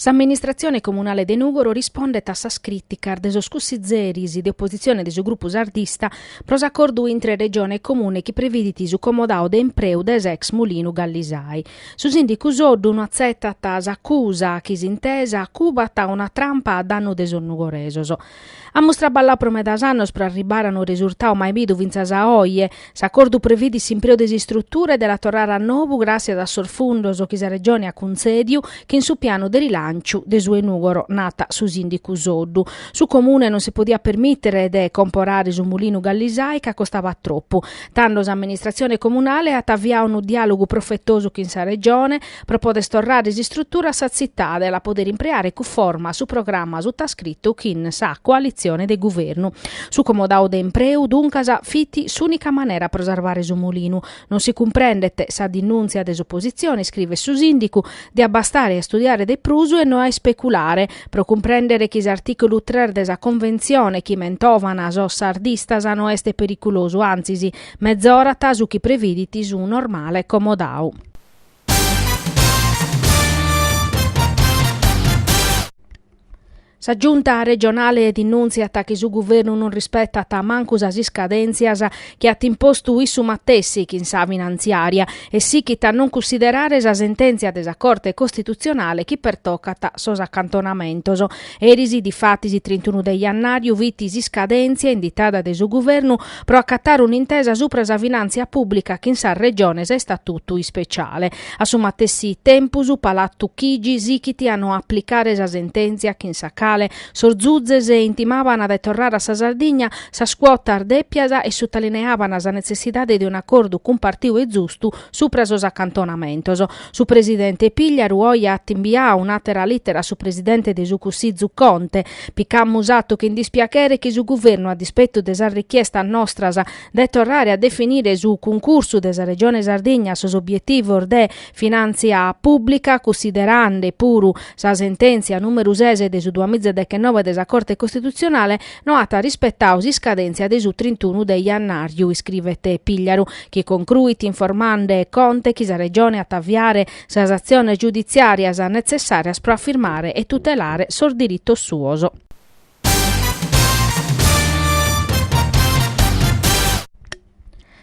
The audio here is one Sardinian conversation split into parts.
S'amministratzione comunale de Nùgoro rispondet a sas crìticas de sos cussitzeris de opositzione de su grupu sardista pro s'acordu intre Regione e Comune chi previdit su comodau de impreu de s'ex mulinu Gallisai. Su sìndicu Soddu no atzetat s'acusa chi s'intesa cubat una trampa a dannu de sos nugoresos. Amus traballau pro medas annos pro arribare a unu resurtau mai bidu fintzas a oje. S'acordu previdit s'impreu de s'istrutura e de la torrare a nobu gràtzias a sos fundos chi sa Regione at cuntzèdiu chin su pianu de rilànciu de su 'e Nùgoro, nat su sìndicu Soddu. Su Comune non si podiat permìtere de comporare su mulinu Gallisai ca costabat tropu. Tando s'amministratzione comunale at aviau unu diàlogu profetosu chin sa Regione, Pro poder torrare s'istrutura a sa tzitade e la poder impreare cuforma su programma sutascritu chin sa coalitzione de guvernu. Su comodau de impreu, duncas, fit s'ùnica manera pro sarvare su mulinu. Non si cumprendet sa dinùntzia de s'opositzione, iscrivet su sìndicu, diat bastare a istudiare de prus e no a ispeculare, pro cumprèndere chi s'artìculu tres de sa Conventzione, chi mentovan sos sardistas, no est periculosu, antzis, mezorat su chi previdit su normale comodau. Sa Giunta regionale dinùntziat chi su guvernu non rispetat mancu sas iscadèntzias chi at impostu issu matessi chin sa finantziària e sichit a non cussiderare sa sentèntzia de sa Corte costitutzionale chi pertocat sos acantonamentos. Eris, difatis trintunu de jannàriu, fit s'iscadèntzia inditada de su Guvernu pro acatare un'intesa supra sa finàntzia pùblica chin sas Regiones a istatutu ispeciale. A su matessi tempus, Palatu Chigi sichit a no aplicare sa sentèntzia chin sa cale sos Zuzes intimaban de torrare a sa Sardigna sas cuotas dèpias e sutalineaban sa netzessidade de un'acordu cumpartiu e zustu supra sos acantonamentos. Su presidente Pigliaru oje at imbiau un'àtera lìtera a su presidente de su Cussizu Conte. Picamus atu chin dispiachere chi su guvernu, a dispetu de sas richiestas nostras de torrare a definire su cuncursu de sa Regione Sardigna a sos obietivos de finàntzia pùblica, cussiderande puru sa sentèntzia nùmeru ses de su duamiza deghenoe de sa Corte Costitutzionale, no at rispetau s'iscadèntzia de su trintunu de jannàriu, iscrivet Pigliaru, chi concruit informande Conte chi sa Regione at a aviare sas atziones giuditziàrias netzessàrias pro afirmare e tutelare sos diritos suos.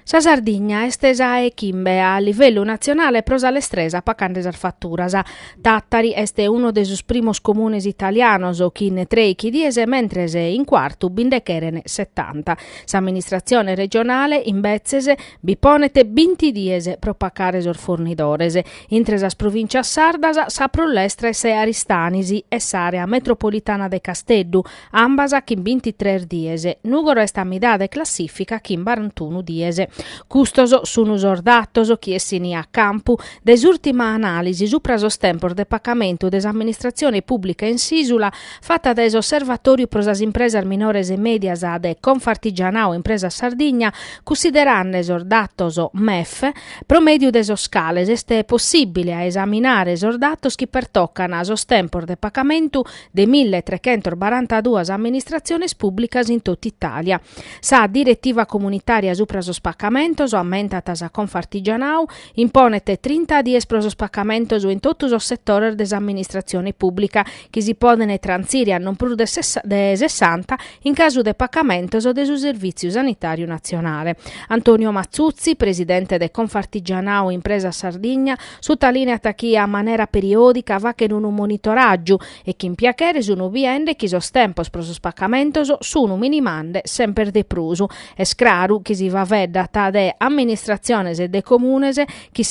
Sa Sardigna est sa 'e chimbe a livellu natzionale pro sa lestresa pacande sas faturas. Tàtari est unu de sos primos comunes italianos chin treichi dies mentres in Cuartu bi nde cheren setanta. S'amministratzione regionale, imbetzes, bi ponet binti dies pro pacare sos fornidores. Intre sas provìntzias sardas sa prus lestra est Aristanis e s'àrea metropolitana de Casteddu, ambas chin bintitres dies. Nùgoro est a midade 'e classìfica chin barantunu dies. Custos sun sos datos chi essini a campu de s'ùrtima anàlisi supra sos tempos de pacamentu de s'amministratzione pùblica in s'ìsula fata dae s'Osservatòriu pro sas impresas minores e mèdias de Confartigianao Impresas Sardigna, cunsiderande sos datos MEF, pro mèdiu de sos cales est possìbile a esaminare sos datos chi pertocan sos tempos de pacamentu de mille e trechentos barantaduas amministratziones pùblicas in totu Itàlia. Sa diretiva comunitària supra sos pacamentos, ammentat sa Confartigianau, imponet trinta dies pro sos pacamentos in totu sos setores de s'amministratzione pùblica, chi si poden trantzire a non prus de sessanta in casu de pacamentos de su Servìtziu Sanitàriu Natzionale. Antonio Matzutzi, presidente de Confartigianau Impresas Sardigna, sutalìneat chi a manera periòdica fachen unu monitoràgiu e chin piachere sun biende chi sos tempos pro sos pacamentos sun minimande semper de prus. Est craru chi si faveddat de amministratziones e de comunes chi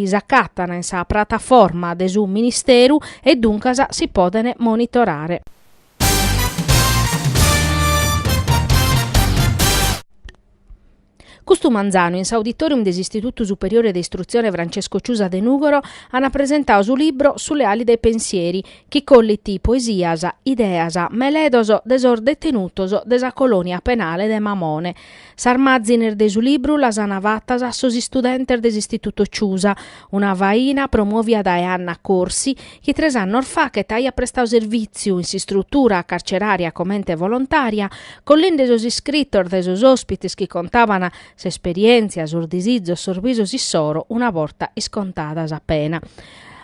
s'acatan in sa prataforma de su Ministeru e duncas si poden monitorare. Custu manzanu in s'auditorium de s'Istitutu Superiore de Istrutzione Francesco Ciusa de Nùgoro an presentau su libro Sulle ali dei pensieri, chi collit poesias, ideas, meledos de sos detenutos de sa colònia penale de Mamone. Sas màzines de su libru las an fatas sos istudentes de s'Istituto Ciusa, una faina promòvia dae Anna Corsi, chi tres annos fachet aiat prestau servìtziu in s'istrutura carcerària comente volontària, collende sos iscritos de sos òspites chi contaban s'esperièntzia, sos disizos, sos bisos issoro una borta iscontada sa pena.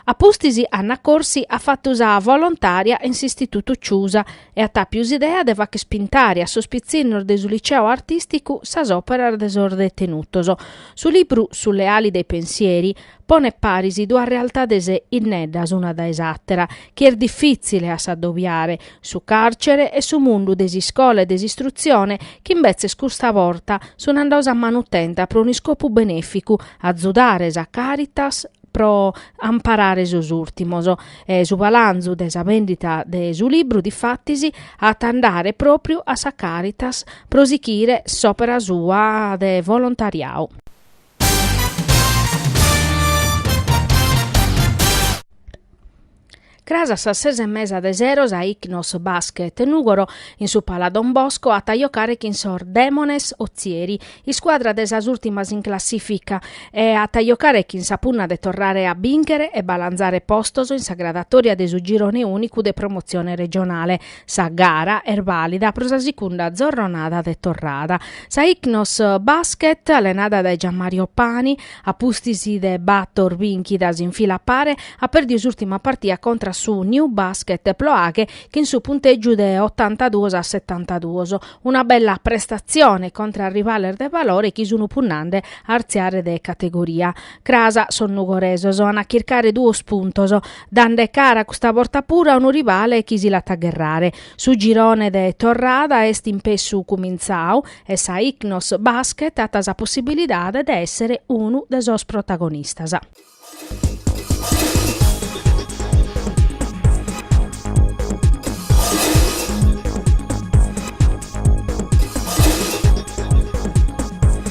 A pustis Anna Corsi at fatu sa volontària in s'Istitutu Ciusa e at àpiu s'idea de facher pintare a sos pitzinnos de su Liceo Artìsticu sas òperas de sos detenutos. Su libru Sulle ali dei pensieri Ponet paris duas realtades inneddas una dae s'àtera, chi est difìtzile a s'adobiare, su càrcere e su mundu de s'iscola e de s'istrutzione, chi imbetzes custa borta sunt andados a manutenta pro un'iscopu benèficu, azudare sa Caritas pro amparare sos ùrtimos. E su palanzu de sa bèndida de su libru, difatis, at a andare pròpriu a sa Caritas pro sighire s'òpera sua de volontariadu. Cras a sas ses e mesa de sero sa Ichnos Basket Nùgoro, in su Pala Don Bosco, at a jocare chin sos Demones Otzieri, iscuadra de sas ùrtimas in classìfica, e at a jocare chin sa punna de torrare a bìnchere e balanzare postos in sa gradatòria de su girone ùnicu de promotzione regionale. Sa gara est bàlida pro sa segunda zorronada de torrada. Sa Ichnos Basket, allenada dae Gianmario Pani, a pustis de bator bìnchidas in fila pare, at pèrdiu s'ùrtima partia contra a su New Basket Ploaghe chin su puntègiu de otantaduos a setantaduos. Una bella prestatzione contra a rivales de valore chi sun punnande a artziare de categoria. Cras sos nugoresos an a chircare duos puntos. dande cara custa borta puru a unu rivale chi si l'at a gherrare. Su girone de torrada est impessu cumintzau e sa Ichnos Basket at sa possibilidade de èssere unu de sos protagonistas.